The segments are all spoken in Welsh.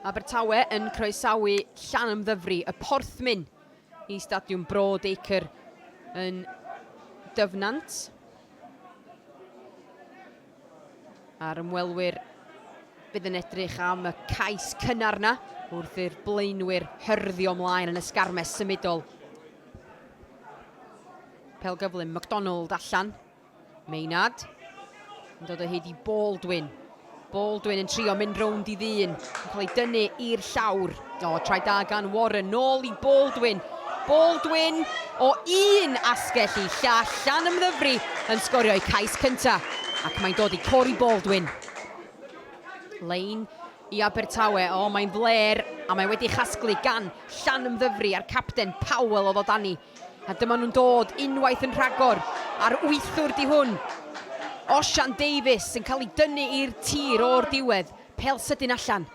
Abertawe yn croesawu Llanymddyfri, y Porthmyn, i Stadiwm Broad Acre yn Dyfnant. A'r ymwelwyr fydd yn edrych am y cais cynnar na wrth i'r blaenwyr hyrddio mlaen yn y sgarmes symudol. Pel gyflym, McDonald allan. Maynard yn dod o hyd i Baldwin. Baldwin yn trio mynd rownd i ddyn, yn cael ei dynnu i'r llawr. O, trai da gan Warren, nôl i Baldwin. Baldwin o un asgell i llall, llan ymddyfru yn sgorio'i cais cynta, ac mae'n dod i Cory Baldwin. Lein i Abertawe, o, mae'n fler, a mae wedi chasglu gan llan ymddyfru a'r capten Powell o ddod â ni. A dyma nhw'n dod unwaith yn rhagor a'r wythwr 'di hwn. Osian Davies yn cael ei dynnu i'r tir o'r diwedd, pêl sydyn allan.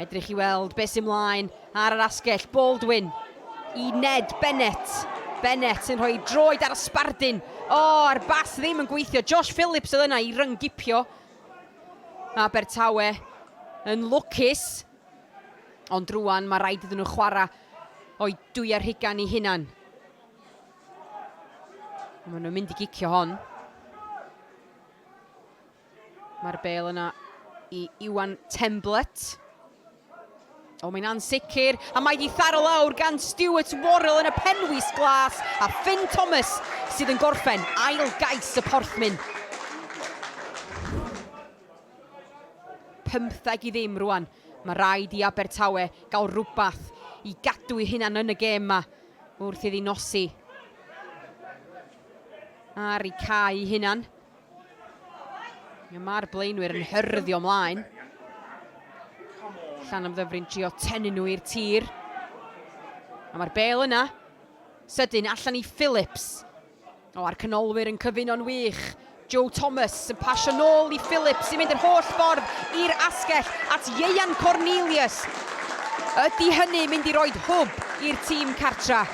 Edrych i weld beth sy'n mlaen ar yr asgell, Baldwin i Ned Bennett. Bennett yn rhoi droed ar y sbardun. O, oh, a'r bas ddim yn gweithio. Josh Phillips oedd yna i ryngipio. Abertawe yn lwcus. Ond rwan mae rhaid iddyn nhw chwarae o'i dwyau rhugan i hunan. Mae nhw'n mynd i gicio hon. Mae'r bel yna i Iwan Temblett. O, mae'n ansicr, a mae di tharo lawr gan Stuart Worrell yn y penwys glas, a Finn Thomas sydd yn gorffen ail gais y porthmyn. Pymtheg i ddim rwan. Mae rhaid i Abertawe gael rhywbeth i gadw'u hunan yn y gêm 'ma wrth iddi nosi ar eu cae eu hunan. Mae'r blaenwyr yn hyrddio mlaen. Llan am ddyfrin trio tenu nhw i'r tir. A mae'r bel yna. Sydyn allan i Phillips. O, a'r canolwyr yn cyfuno'n wych. Joe Thomas yn pasio nôl i Philip sy'n mynd yr holl ffordd i'r asgell at Ieuan Cornelius. Ydy hynny mynd i roed hwb i'r tîm cartra?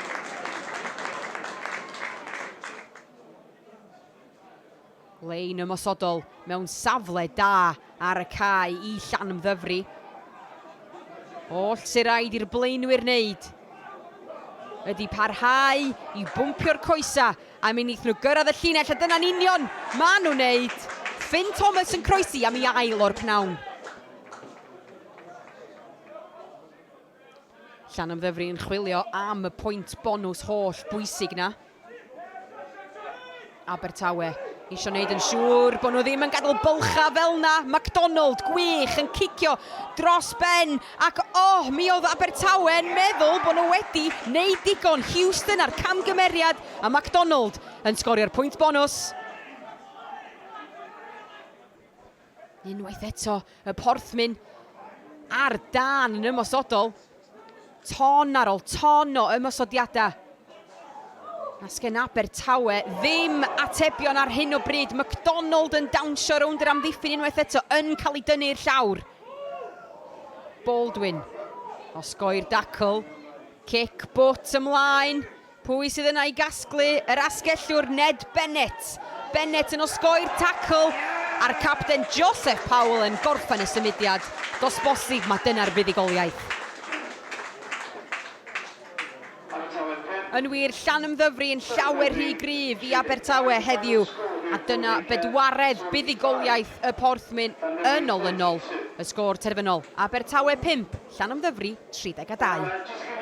Lein ymosodol mewn safle da ar y cae i Llanymddyfri. Oll sy'n rhaid i'r blaenwyr wneud ydy parhau i bwmpio'r coesa a mi wneith nhw gyrraedd y llinell a dyna'n union ma nhw'n wneud. Ffyn Thomas yn croesi am i ail o'r pnawn. Llanymddyfri yn chwilio am y pwynt bonws holl bwysig na. Abertawe eisiau wneud yn siŵr bod nhw ddim yn gadael bylchau fel yna. McDonald, gwych, yn cicio dros ben. Ac oh, mi oedd Abertawe yn meddwl bod nhw wedi wneud digon. Houston a'r camgymeriad a McDonald yn sgorio'r pwynt bonws. Unwaith eto, y Porthmyn ar dân yn ymosodol. Ton ar ôl ton o ymosodiadau. Na sgen Abertawe ddim atebion ar hyn o bryd. McDonald yn dawnsio rownd yr amddiffyn unwaith eto yn cael ei dynnu i'r llawr. Baldwin. Osgoi'r dacl. Cic bwt ymlaen. Pwy sydd yna i gasglu yr asgellwr Ned Bennett? Bennett yn osgoi'r tacl a'r capten Joseph Powell yn gorffen y symudiad. Does bosib mae dyna'r fuddugoliaeth. Yn wir, Llanymddyfri yn llawer rhy gryf i Abertawe heddiw, a dyna bedwaredd buddugoliaeth y Porthmyn yn olynol. Y sgôr terfynol, Abertawe 5, Llanymddyfri 32.